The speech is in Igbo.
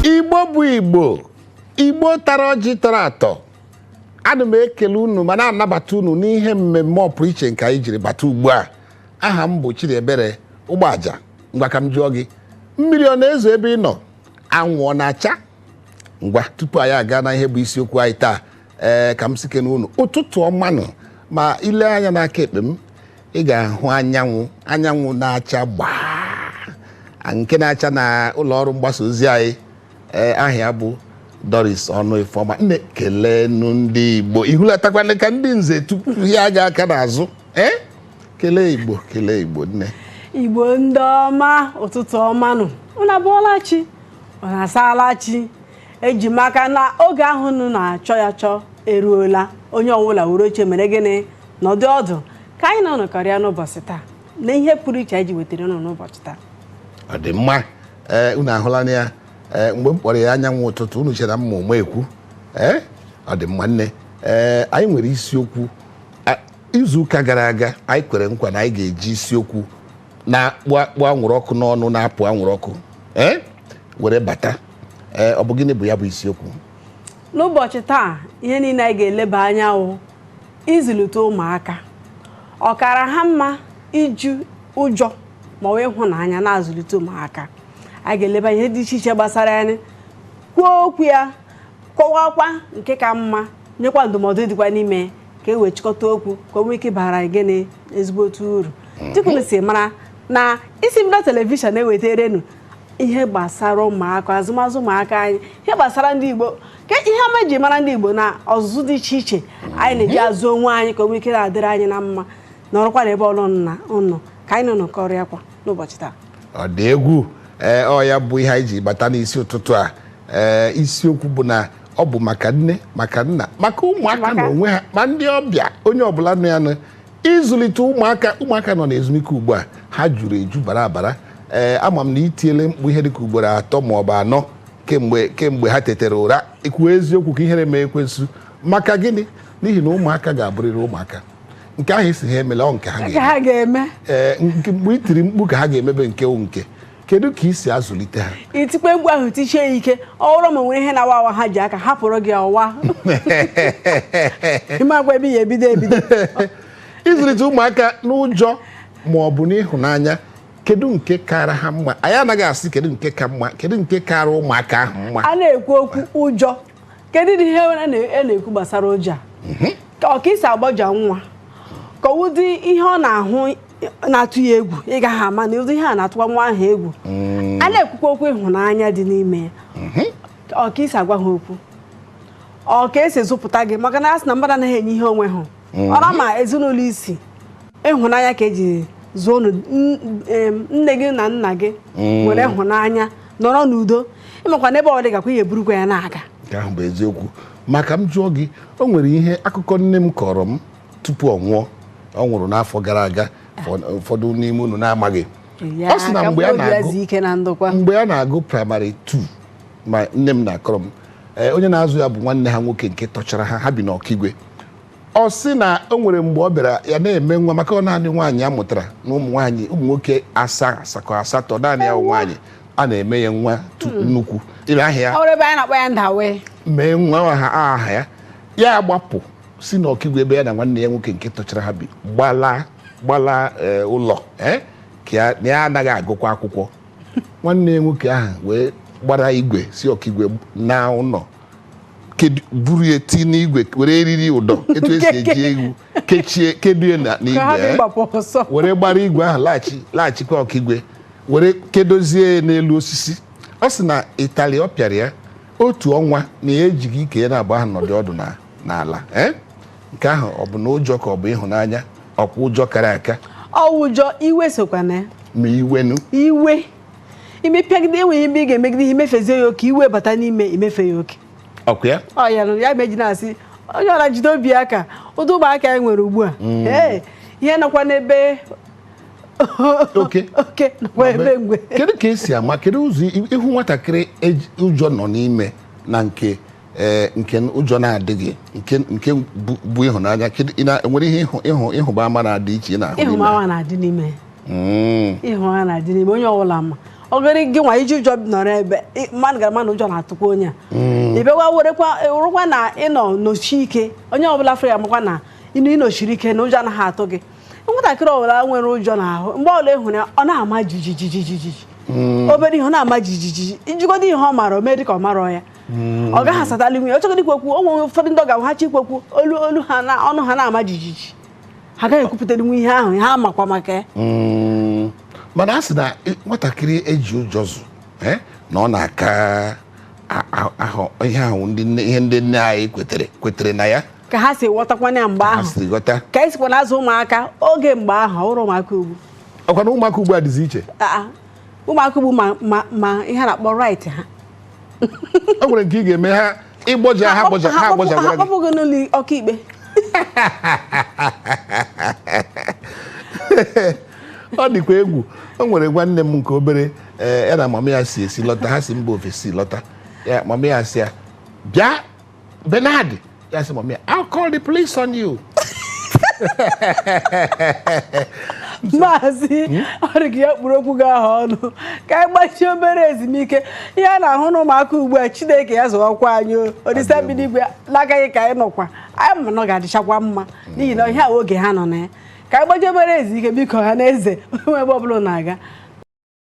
Igbo bụ Igbo Igbo tara ọjị tọrọ atọ ana m ekele unu ma na-anabata unu n'ihe mmemme ọpụrụ iche nke anyị jiri bata ugbu a aha m bụ Chidiebere Ụgbọaja ngwa ka m jụọ gị mmiri ọ na-ezo ebe ị nọ anwụ ọ na-acha ngwa tupu anyị aga na ihe bụ isiokwu anyị taa ee ka m sịkenụ unu ụtụtụ ọmanụ ma i lee anya n'aka ekpe m ị ga-ahụ anyanwụ anyanwụ na-acha gbaa nke na-acha na ụlọ ọrụ mgbasa ozi anyị ee aha ya bụ Doris Ọnụ Ifeọma nne kelenụ ndị Igbo i hulatakwa ala ka ndị nze tie gị aka n'azụ ee kelee Igbo kelee Igbo nne Igbo ndị ọma ụtụtụ ọmanụ unu abọọla chi unu asaala chi eji m aka na oge ahụ unu na-achọ ya achọ eruola onye ọbụla were oche mere gịnị nọdụ ọdụ ka anyị na unu nọkọrịa n'ụbọchị taa na ihe pụrụ iche anyị ji wetara unu n'ụbọchị taa ọ dị mma ee unu ahụlanụ ya ee mgbe m kpọrọ ya anyanwụ ụtụtụ unu chere na m ma ụma ekwu ee ọ dị mma nne ee anyị nwere isiokwu a- izu ụka gara aga anyị kwere nkwa na anyị ga-eji isiokwu na-akpụ akpụ anwụrụ ọkụ n'ọnụ na-apụ anwụrụ ọkụ ee were bata ee ọ bụ gịnị bụ ya bụ isiokwu n'ụbọchị taa ihe niile anyị ga-eleba anya wụ ịzụlite ụmụaka ọ kara ha mma iji ụjọ ma ọ bụ ịhụnanya na-azụlite ụmụaka anyị ga-eleba ihe dị iche iche gbasara ya kwuo okwu ya kọwakwa nke ka mma nyekwa ndụmọdụ dịkwa n'ime ya ka e wee chịkọta okwu ka o nwee ike bara anyị gịnị ezigbote uru dịka unu si mara na Isimbido telivishọn na-ewetere unu ihe gbasara ụmụaka azụmazụ ụmụaka anyị ihe gbasara ndị Igbo ka ihe ọma e ji mara ndị Igbo na ọzụzụ dị iche iche anyị na-eji mhm. azụ onwe anyị ka o nwee ike na-adịrị anyị na mma nọrọkwanụ ebe ọbụla unu nọ ka anyị na unu nọkọrịakwa n'ụbọchị taa ọ dị egwu ee ọ ya bụ ihe anyị ji bata n'isi ụtụtụ a ee isiokwu bụ na ọ bụ maka nne maka nna maka ụmụaka na onwe ha ma ndị ọbịa onye ọbụla nụ ya nụ ịzụlite ụmụaka ụmụaka nọ n'ezumike ugbu a ha juru eju bara abara ee ama m na i tiele mkpu ihe dịka ugboro atọ ma ọ bụ anọ kemgbe kemgbe ha tetara ụra kwuo eziokwu ka ihere mee ekwensu maka gịnị n'ihi na ụmụaka ga-abụrịrị ụmụaka nke ahụ a sị ha emela ọ nke ha ga-eme ee mgbe i tiri mkpu ka ha ga-emebe nke nke kedu ka i si azụlite ha i tikwa mkpu ahụ tisie ya ike ọ bụrụ ma e nwere ihe na-awa awa ha ji aka hapụrụ gị ọ waa ị makwa ebe ị ya-ebido ebido ịzụlite ụmụaka n'ụjọ ma ọ bụ n'ịhụnanya kedu nke kara ha mma anyị anaghị asị kedu nke ka mma kedu nke kara ụmụaka ahụ mma a na-ekwu okwu ụjọ kedu ụdị ihe a na-ekwu gbasara ụjọ a mhm. ka ọ ka i si agbaja nwa ka ụdị ihe ọ na-ahụ na-atụ ya egwu ị gaghị ama na ụdị ihe a na-atụwa nwa ahụ egwu mm. a na-ekwukwa okwu ịhụnanya dị n'ime ya mhm. ọ ka i si agwa ha okwu ọ ka e si zụpụta gị maka na a sị na mmadụ anaghị enye ihe o nweghị mhm. ọra ma ezinụlọ i si ịhụnanya ka eji zụọ unu N- em, nne gị na nna gị nwere ịhụnanya nọrọ n'udo ị makwa n'ebe ọ dịgakwa ihe burukwa ya na-aga nke ahụ bụ eziokwu maka m jụọ gị o nwere ihe akụkọ nne m kọrọ m tupu ọ nwụọ ọ nwụrụ n'afọ gara aga ụfọdụ- ụfọdụ n'ime unu na-amaghị Ya, ọ sị na ka mgbe a mkpụrụ obi ya na-agụ zuo ike na ndokwa mgbe ya na-agụ primary 2 ma nne m na-akọrọ m ee, onye na-azụ ya bụ nwanne ha nwoke nke tọchara ha ha bi n'ọkigwe ọ sị na o nwere mgbe ọ bịara ya na-eme nwa maka ọ naanị nwaanyị a mụtara na ụmụ nwaanyị ụmụ nwoke asaa asakọ asatọ naanị ya bụ nwaanyị a na-eme ya nwa tu- nnukwu ile aha ya ọ bụrụ ebe anyị na-akpọ ya ndawe mee nwa ha aha ya ya agbapụ si na ọkigwe ebe ya na nwanne ya nwoke nke tọchara ha bi gbalaa gbalaa eh, ụlọ eh, ka ya- na ya anaghị agụkwa akwụkwọ nwanne ya nwoke ahụ wee gbara igwe si ọkigwe naa ụlọ buru ya ti n'igwe were eriri ụdọ etu esi eji ewu kechie kedo ya n'igwe eh? were gbara igwe ahụ laghachi laghachikwa ọkigwe were kedozie n'elu osisi ọ sị na itali ọ pịara ya otu ọnwa na ya ejighị ike ya naabọ ahụ nọdụ ọdụ n'ala eh? nke ahụ ọ bụ na ụjọ ka ọ bụ ịhụnanya ọkwa ụjọ kara aka ọ ụjọ iwe sokwa na ya ma iwenu iwe imepịagide enweghị ebe ị ga-emegide ihe i mefezie ya oke iwe bata n'ime i mefe ya oke ọkwa ya ọ ya lụrụ ya m ji na-asị onye ọra jide obi aka ụdị ụmụaka anyị nwere ugbu a mm. ee ihe nọkwa n'ebe oke oke nọkwa ebe mgbe kedu ka esi ama kedu ụzọ ị hụ nwatakịrị e ụjọ nọ n'ime na nke ee nke ụjọ na-adịghị nke nke bụ bụ ịhụnanya kedu ị na- enwere ihe ịhụ ịhụ ịhụba ama na-adị iche ị na-ahụ n'ime ya? ịhụba ama na-adị n'ime ya Mm. ịhụnanya na-adị n'ime onye ọbụla ma ọ gịrị gị nwa i ji ụjọ nọrọ ebe ị- mmadụ ga-ama na ụjọ na-atụkwa onye a ị bịakwa werekwa rụkwa na ị nọ nọchi ike onye ọbụla fere ya makwa na ịnụ ị nọchiri ike na ụjọ anaghị atụ gị nwatakịrị ọbụla nwere ụjọ n'ahụ mgbe ọbụla ị hụrụ ya ọ na-ama jijijijijiji obere ihe ọ na-ama jijijiji ị jụgodu ihe ọ mara o mee dị ka ọ marọ ya hmm. ọ gaghị asatalinwu ya ọ chọgodi ikwu okwu o nwere ụfọdụ ndị ọ ga-abụ ha chọ ikwu okwu olu olu ha na ọnụ ha na-ama jijiji ha gaghị ekwupụtalinwu ihe ahụ ha makwa maka ya hmm. mana a sị na nwatakịrị eji ụjọ zụ eh, na ọ na-aka ahụ ihe ahụ ihe ndị nne anyị kwetere kwetere na ya ka ha si ghọtakwana ya mgbe ahụ ka anyị sikwa na-azụ ụmụaka oge mgbe ahụ ọ bụrụ ụmụaka ugbu ọkwa na ụmụaka ugbu a dịzi iche ụmụaka ugbu ma ihe a na-akpọ right ha o nwere nke ị ga-eme ha ịgbọja ha gbọja ha gbọja ha akpọpụ gị n'ụlọ ọkaikpe ọ dịkwa egwu o nwere nwanne m nke obere eh, ya na mama ya si esi lọta ha si mba ofesi lọta ya mama ya sị ya bịa Bernard ya sị mọmi I'll call the police on you maazị ọrịga ya kpụrụ okwu gị ahụ ọnụ ka anyị gbachie obere ezumike ihe a na-ahụ n'ụmụaka ugbu a Chineke ya zọwakwa anyị Olisa bi n'igwe n'aka gị ka anyị nọkwa anyị ma na ọ ga-adịchakwa mma n'ihi na ihe a oge ha nọ na ya ka anyị gbachie obere ezumike biko ọha na eze o nwe ebe ọbụla na-aga